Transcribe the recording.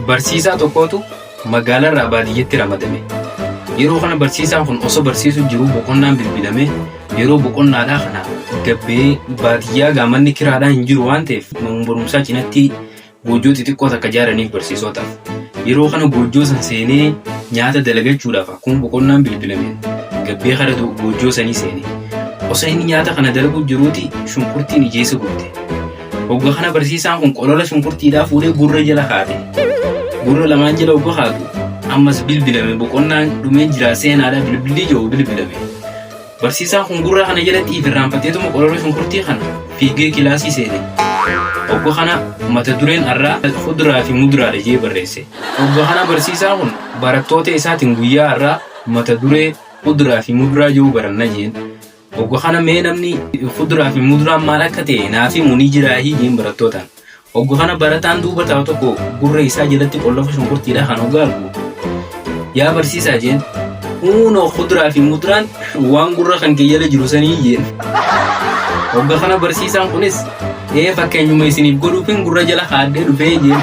Barsiisaa tokkootu magaalarraa baadiyyeetti ramadame. Yeroo kana barsiisaan kun osoo barsiisuu jiruu boqonnaan bilbilamee yeroo boqonnaadhaa kana gabbee baadiyyaa gaamanni kiraadhaa hin jiru waan ta'eef manuma barumsaa cinatti Goojjoo xixiqqoo takka jaaraniif barsiisotaaf. Yeroo kana goojjoo san seenee nyaata dalagachuudhaaf akkuma boqonnaan bilbilameen gabbee kara goojjoo sanii seene. Osoo inni nyaata kana dalaguu jiruuti shunkurtiin ijeessa gubde. Hogga kana barsiisaan kun qolola shunkurtiidhaa fuudhee gurra jala kaate. Gurra lamaan jala hogga kaatu ammas bilbilame boqonnaan dhumee jira seenaadhaa bilbilli jedhu bilbilame. Barsiisaan kun gurraa kana jalatti ifirraanfateetuma qororri shunkurtii kana fiigee kilaasii seene. Ogga kana mata dureen har'aa fuduraa fi muduraadha jee barreesse. Ogga kana barsiisaan kun barattoota isaatiin guyyaa har'aa mata duree fuduraa fi muduraa jiru baranna jeen. Ogga kana mee namni fuduraa fi muduraan maal akka ta'e naaf himu ni jiraahii jeen barattootaan. Oggu kana barataan duuba taa'u tokko gurra isaa jalatti qollafa shunkurtiidhaa kan hoggaa argu yaa barsiisaa jeen huunoo kuduraa fi muduraan waan gurra kan kee jala jiru sanii jeen. Ogga kana barsiisaan kunis ee fakkeenyuma isiniif godhuufin gurra jala haadhee dhufee jeen.